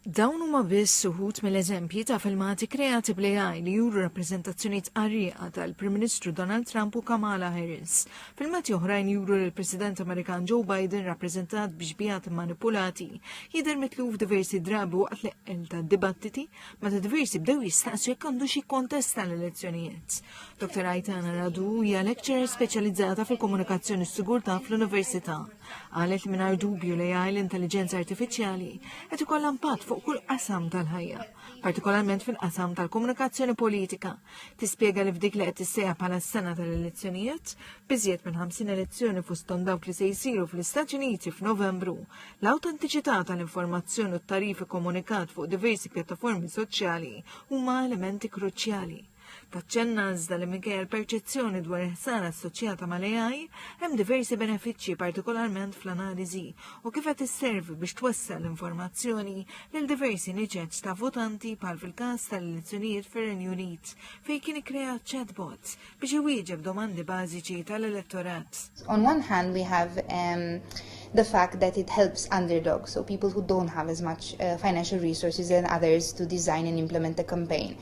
Dawn huma biss uħud mill-eżempji ta' filmati kreati bl-AI li juru rappreżentazzjonijiet qarrieqa tal-Prim Ministru Donald Trump u Kamala Harris. Filmati oħrajn juru li l-President Amerikan Joe Biden rappreżentat b'xbiehat immanipulati jidher mitluf diversi drabi waqt l-eqqel tad-dibattiti meta diversi bdew jistaqsu jekk għandux jikkontesta l-elezzjonijiet. Dr. Aitana Radu hija lecturer speċjalizzata fil-komunikazzjoni s-sigurtà fl-Università. Qalet li mingħajr dubju li għaj l-intelligenza artifiċjali qed ikollha impatt fuq kull qasam tal-ħajja, partikolarment fil-qasam tal-komunikazzjoni politika. Tispjega li f'dik li qed tissejja bħala s-sena tal-elezzjonijiet, biżjed minn 50 elezzjoni fosthom dawk li se jsiru fl-Istati Uniti f'Novembru, l-awtentiċità tal-informazzjoni u t-tarif ikkomunikat fuq diversi pjattaformi soċjali huma elementi kruċjali. Taċċenna iżda li minkejja l-perċezzjoni dwar il-ħsara assoċjata mal-AI, hemm diversi benefiċċji partikolarment fl-analiżi u kif qed isservi biex twessel l-informazzjoni lil diversi niċeċ ta' votanti bħal fil-każ tal-elezzjonijiet fir-Renju Unit fejn kien ikkrea chatbot biex iwieġeb domandi bażiċi tal-elettorat. On one hand we have um, the fact that it helps underdogs, so people who don't have as much uh, financial resources and others to design and implement a campaign.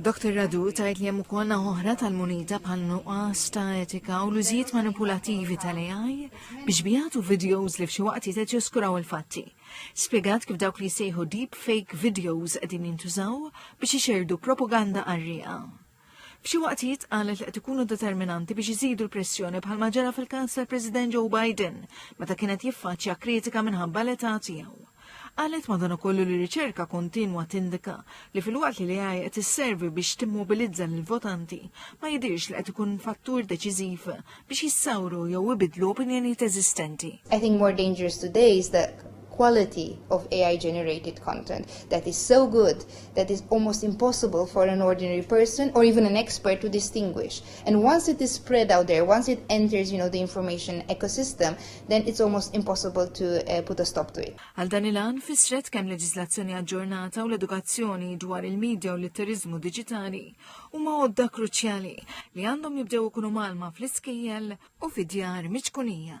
Dr Radu tgħid li hemm ukoll oħra tal-munita bħal nuqqas ta' etika u l-użijiet manipulativi tal-AI biex bijatu videos li f'xi waqt jiteġ jiskuraw il-fatti. Spjegat kif dawk li jsejħu deep fake videos qegħdin jintużaw biex ixerdu propaganda qarrieqa. F'xi waqtijiet qalet li qed ikunu determinanti biex iżidu l-pressjoni bħal maġara fil-każ tal-President Joe Biden meta kienet jiffaċċja kritika minħabba l-età tiegħu. Qalet madankollu li riċerka kontinwa tindika li filwaqt li l-AI qed isservi biex timmobilizza lill-votanti, ma jidhirx li qed ikun fattur deċiżiv biex jissawru jew ibiddlu opinjonijiet eżistenti. I think more dangerous today is the quality of AI generated content that is so good that is almost impossible for an ordinary person or even an expert to distinguish. And once it is spread out there, once it enters, you know, the information ecosystem, then it's almost impossible to uh, put a stop to it. Għal dan il-għan fissret kemm leġislazzjoni aġġornata u l-edukazzjoni dwar il-medja u l-litterizmu digitali huma għodda kruċjali li għandhom jibdew ikunu malma fl-iskejjel u fid-djar miċkunija.